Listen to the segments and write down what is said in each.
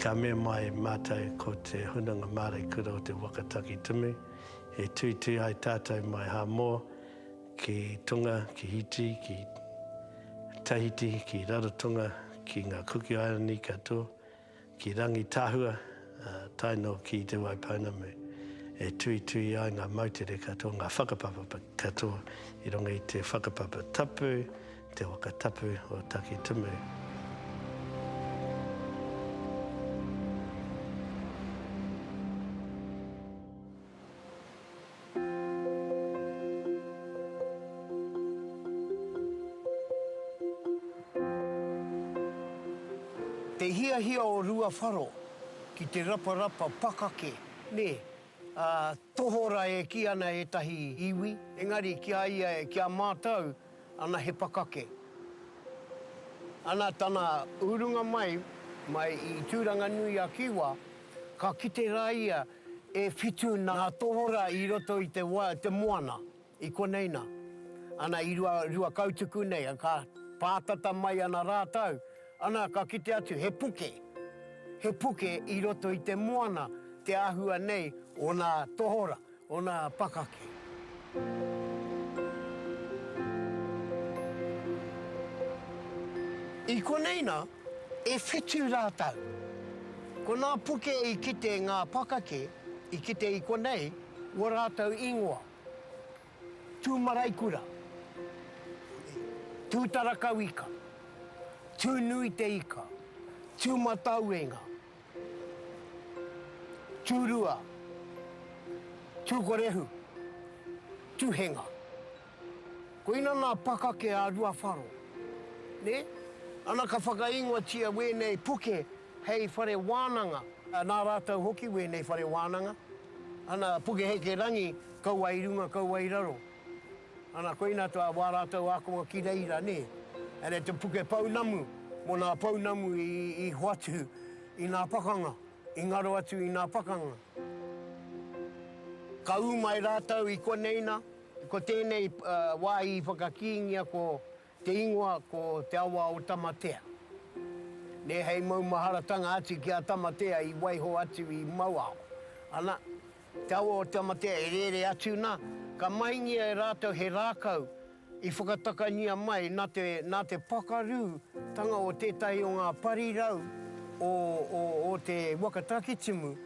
Ka mema ai mātou ko te Hunanga Māreikura o te Waka Takitumu e tuitui ai tātou mai Hāmoa ki Tonga, ki Hiti, ki Tahiti, ki Rarotonga, ki ngā Kuki Airani katoa, ki Rangitahua, tae noa ki Te Waipounamu, e tuitui ai ngā moutere katoa, ngā whakapapa katoa i runga i te whakapapa tapu, Te waka tapu o Takitumu. Te hiahia o Ruawharo ki te raparapa pakake, nē, ā, tohora e kī ana ētahi iwi, engari ki a ia, ki a mātou, Ana he pakake. Ana tana urunga mai, mai i Tūranganui-a-Kiwa, ka kite rā ia e whitu nā tohora i roto i te wai, te moana, i konei nā. Ana i rua, rua kautuku nei, ka pātata mai ana rātou, ana ka kite atu he puke, he puke i roto i te moana te āhua nei o nā tohora. Ona pakake. I konei na, e whitu ra tau. Ko na puke i kite nga pakake i kite i konei wo ratou ingoa. Tumaraikura. Tutarakauika. Tunuiteika. Tumatauenga. Tūrua, Tūkorehu, Tuhenga. Koina nā pakake a Ruawharo, nē? Ana ka whakaingoatia wēnei puke hei whare wānanga. Nā rātou hoki wēnei whare wānanga. Ana, puke heke rangi, kaua i runga, kaua i raro. Ana koina tā wā rātou ākonga ki reira, nē. Ana te puke pounamu mō nā pounamu i hoatu i nā pakanga, i ngaro atu i nā pakanga. Ka ū mai rātou i konei nā, ko tēnei wā i whakakīngia ko Te ingoa ko Te Awa o Tamatea. Nē hei maumaharatanga atu ki a Tamatea i waiho atu i Mauao. Ana, Te Awa o Tamatea e rere atu na, ka mahingia e ratou he rakau i whakatakania mai na te na te pakaru tanga o tetahi o nga parirau o o o te waka Takitimu,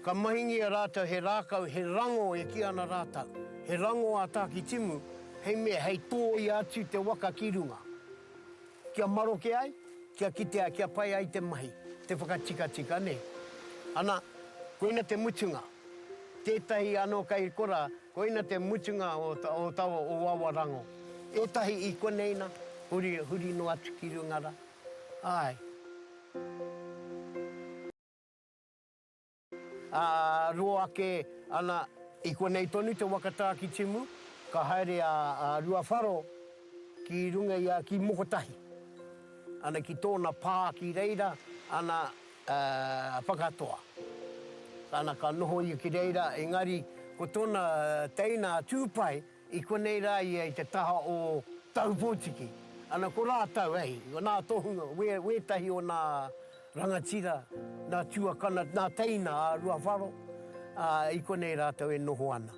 Ka mahingia rātou he rākau, he rango e kī ana rātou, he rango a Tākitimu, hei mea hei tōia atu te waka ki runga, kia maroke ai, kia kitea, kia pai ai te mahi, te whakatikatika, nē. Ana, koina te mutunga. Tētahi anō kei korā, koina te mutunga o taua o aua rango. Ētahi i konei nā, huri, huri noa atu ki runga rā. Āe. Ā, ro ake ana i konei tonu te waka tā ki Timu, ka haere a Ruawharo ki runga i a, ki Mokotahi, ana ki tōna pā ki reira, ana whakatoa, ana ka noho ia ki reira, engari ko tōna teina a Tūpai, I konei rā ia i te taha o Tahupōtiki. Ana ko rātau, hei, nā tohunga, wētahi o nā rangatira, nā tuakana, nā teina a Ruawharo, ā, i konei rātau e noho ana.